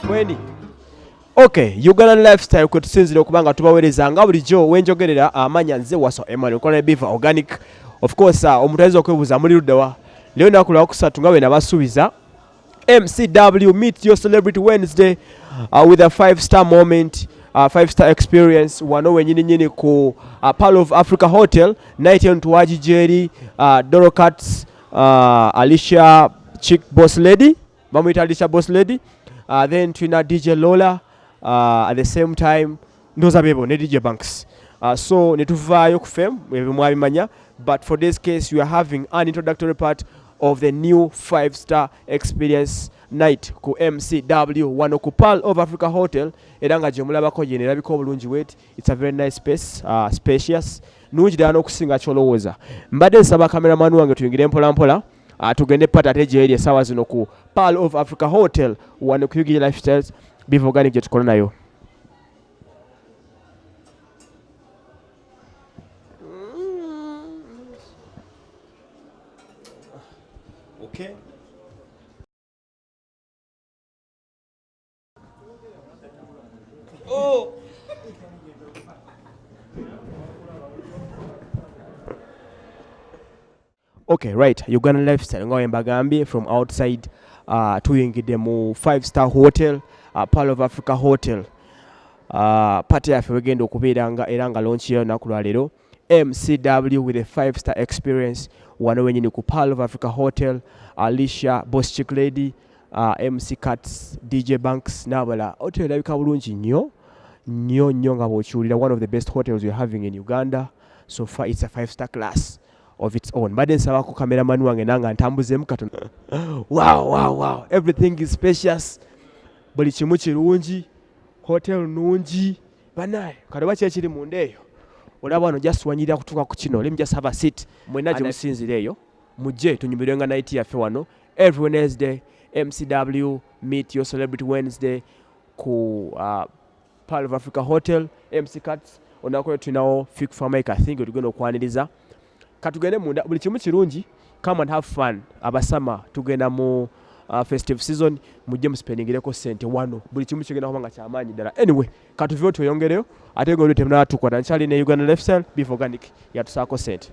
Mweni. Okay, Uganda lifestyle kwe tusinzira okuba nga tubawereza nga bulijjo wenjogerera amanya nze waso Emmanuel Kona Biva Organic. Of course, uh, omuntu ayinza okwebuuza muli ludda wa? Leo naku lwa kusatu nga bwe nabasuubiza MCW meet your celebrity Wednesday uh, with a five star moment uh, five star experience wano wenyini nyini ku uh, Pearl of Africa Hotel night on tuwaji jeri uh, Dorocats uh, Alicia Chick Boss Lady bamuyita Alicia Boss Lady uh, then tulina DJ Lola uh, at the same time ndoza bebo ne DJ Banks uh, so netuvaayo ku fame ebyo mwabimanya but for this case you are having an introductory part of the new five star experience night ku mcw wano ku pearl of africa hotel era nga gyemulabako gyenerabika obulungi wet It's a very nice space, uh, spacious. Nungi ddala n'okusinga ky'olowooza. Mbadde nsaba cameraman wange tuyingire mpola mpola. Uh, tugende pata ate gyeri essaawa zino ku Pearl of Africa Hotel wano ku Ugiri Lifestyles bivoganic gye tukola nayo. Okay. Oh. okay right uganda lifestyle nga wembagambye from outside uh, tuyingidde mu five star hotel uh, pal of africa hotel uh, pate yaffe wegenda okubeera nga era nga lonki yayo naku lwaleero mcw with a five star experience wano wenyini ku pal of africa hotel alicia boss chick lady uh, mc cats dj banks nabala hotel erabika bulungi nnyo nnyo nnyo nga bwokiwulira one of the best hotels weare having in uganda so far it's a five star class of its own mbadde nsabako kameramani wange nanga ntambuzemu katono wow, wow, wow. everything is spacious buli kimu kirungi hotel nungi banaye kale oba kyekiri munda eyo olaba wano just wanyirira kutuuka ku kino let me just have a seat mwena gye musinzira eyo mujje tunyumirwenga night yaffe wano every wednesday mcw meet your celebrity wednesday ku uh, pearl of africa hotel mc cats olunaku lwe tulinawo fik famik i think wetugenda okwaniriza katugende munda buli kimu kirungi come and have fun abasama tugenda mu uh, festive season mujje musipendingireko sente wano buli kimu kigenda kuba nga kyamaanyi ddala anyway katuve oti oyongereyo ate goli temunatukwata nkyali ne uganda lifestyle beef organic yatusaako sente